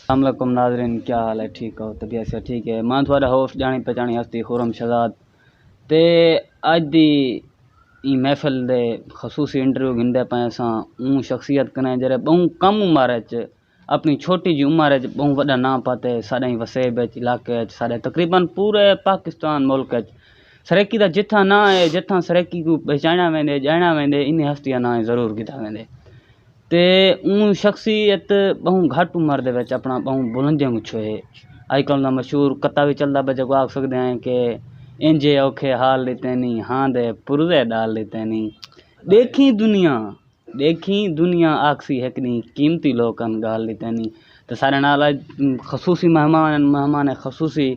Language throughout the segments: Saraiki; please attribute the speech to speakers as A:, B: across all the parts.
A: السلام علیکم ناظرین کیا حال ہے ٹھیک ہو طبیعت سے ٹھیک ہے میں تھوڑا ہوش جانی پہچانی ہستی خورم شہزاد تے اج دی این محفل دے خصوصی انٹرویو گھندے پے ساں اون شخصیت کنے جڑے بہوں کم عمر اچ اپنی چھوٹی جی عمر اچ بہوں وڈا نام پاتے ساڈے وسیب اچ علاقے اچ ساڈے تقریبا پورے پاکستان ملک اچ سریکی دا جتھا نہ ہے جتھا سریکی کو پہچانیا ویندے جانیا ویندے انہیں ہستیاں نہ ضرور گھدا ویندے تے اوں شخصیت بہوں گھٹ عمر دے وچ اپنا بہوں بلندیاں کوں چھوہے اج کل دا مشہور کتا وی چلدا پئے جیکوں آکھ سکدے آں کہ اینجھے اوکھے حال ݙتے نی ہاں دے پرزے ݙال ݙتے نی ݙیکھیں دنیا ݙیکھیں دنیا آکھسی ہک ݙینہہ قیمتی لوک ہن ڳال ݙتے نی تے سارے نال اڄ خصوصی مہمان ہن مہمان خصوصی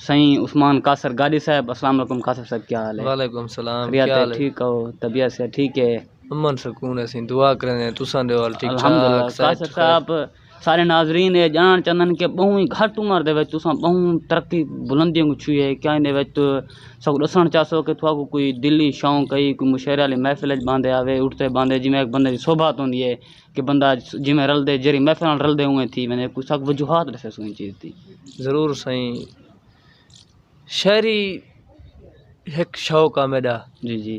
A: سئیں عثمان قاصر گاݙی صاحب السلام علیکم قاصر صاحب کیا حال ہے وعلیکم السلام خیریت ہے ٹھیک ہو طبیعت صحت ٹھیک ہے امن سکون اسی دعا کریندے ہیں تساں دے حال ٹھیک ٹھاک صحت خیر صاحب سارے ناظرین اے جانڑ چاہندن کہ بہوں ہی گھٹ عمر دے وچ تساں بہوں ترقی بلندی کوں چھوئی ہے کیا ایندے وچ ساکوں ݙسݨ چاہسو کہ تھاکوں کوئی دلی شوق ہئی کوئی مشاعرے آلی محفل اچ باندے آوے اٹھدے باندے جیویں ہک بندے دی سوبھا ہوندی ہے کہ بندہ جیویں رلدے جیڑھی محفل نال رلدے اونویں تھی ویندے کوئی ساکوں وجوہات ݙسیسو ایں چیز دی ضرور سائیں شاعری ہک شوق آ میݙا جی جی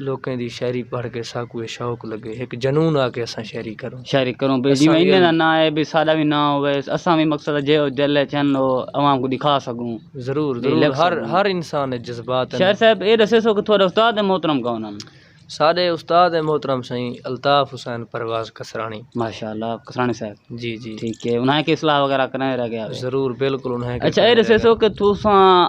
A: لوکیں دی شاعری پڑھ کے ساکوں اے شوق لگے ہک جنون آ کے اساں شاعری کروں شاعری کروں بھئی جیویں انہیں دا ناں ہے بھئی ساڈا وی ناں ہووے اساں وی مقصد ہے جیہو دل اچ ہن او عوام کوں دکھا سکوں ضرور ضرور ہر ہر انسان اچ جذبات ہن شاعر صاحب اے ڈسے سو کہ تہاڈے استاد محترم کون ہن ساڈے استاد محترم سئیں الطاف حسین پرواز کسرانی ماشاءاللہ کسرانی صاحب جی جی ٹھیک ہے انہاں کی اصلاح وغیرہ کرنے رہ گیا ضرور بالکل انہاں اچھا اے ڈسے سو کہ تساں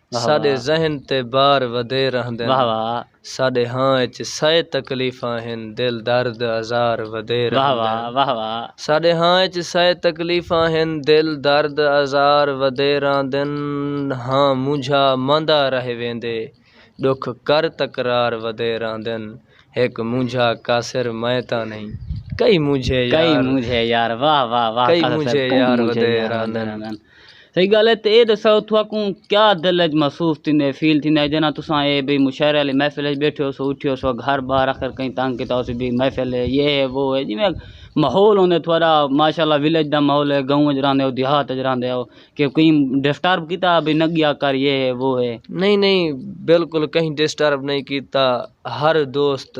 A: ساݙے ذہن تے بار ودھے رہندن ساݙے ہاں اچ سئے تکلیفاں ہن دل درد آزار ودھے رہندن ساݙے ہاں اچ سئے تکلیفاں ہن دل درد آزار ودھے رہندن ہاں مونجھا ماندا رہ ویندے ݙکھ کر تکرار ودھے رہندن ہک مونجھا قاصر میں تاں نئیں کئی مونجھے یار ودھے رہندن۔ صحیح گال ہے تے اے دساؤ تھاکوں کیا دل اچ محسوس تھیندے فیل تھیندے جنہاں تساں اے بھئی مشاعرے آلی محفل اچ بیٹھے ہوسو اٹھے ہوسو گھر بار آخر کہیں تنگ کیتا ہوسی بھئی محفل ہے یہ ہے وہ ہے جیویں ماحول ہوندے تھوڑا ماشاءاللہ ولیج دا ماحول ہے گاؤں اچ راہندے ہو دیہات اچ راہندے ہو کہ کہیں ڈسٹرب کیتا بھئی نہ گیا کر یہ ہے وہ ہے۔ نئیں نئیں بالکل کہیں ڈسٹرب نئیں کیتا ہر دوست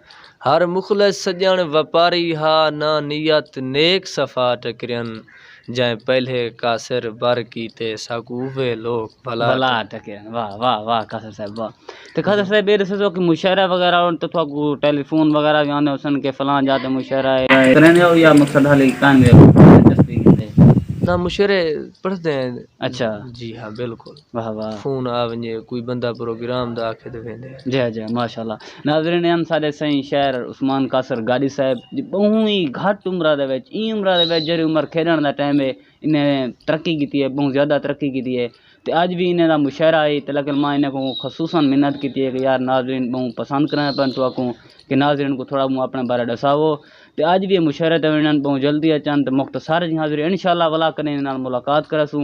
A: ہر مخلص سڄݨ وپاری ہا نہ نیت نیک صفا ٹکرین جئیں پہلے قاصر بر کیتے ساکوں اوہے لوک بھلا ٹکرین واہ واہ واہ قاصر صاحب واہ تے قاصر صاحب اے ݙسو سو کہ مشاعرہ وغیرہ ہن تاں تہاکوں ٹیلی فون وغیرہ وی آندے ہوسن کہ فلاں جاہ تے مشاعرہ اے کریندے ہو یا مقصد ہالی کائنویں دلچسپی کیتے نہ مشاعرے پڑھدے ہیں اچھا جی ہاں بالکل۔ واہ واہ فون آ ونجے کوئی بندہ پروگرام دا آکھے تے ویندے ہیں۔ جے جے ماشاءاللہ ناظرین ہن ساڈے سائیں شاعر عثمان قاصر گاڈی صاحب دی بہوں ای گھٹ عمرہ دے وچ ایں عمرہ دے وچ جیرھی عمر کھیڈن دا ٹائم ہے انہیں ترقی کیتی ہے بہوں زیادہ ترقی کیتی ہے تے اج وی انہیں دا مشاعرہ ہئی تے لیکن ماں انہیں کوں خصوصا منت کیتی ہے کہ یار ناظرین بہوں پسند کریندے پن تو اکوں کہ ناظرین کوں تھوڑا بہوں اپنے بارے ڈساوو تے اج وی اے مشاعرے تے ونجن بہوں جلدی اچن تے مختصر جی حاضری انشاءاللہ ولا کدے انہیں نال ملاقات کریسوں۔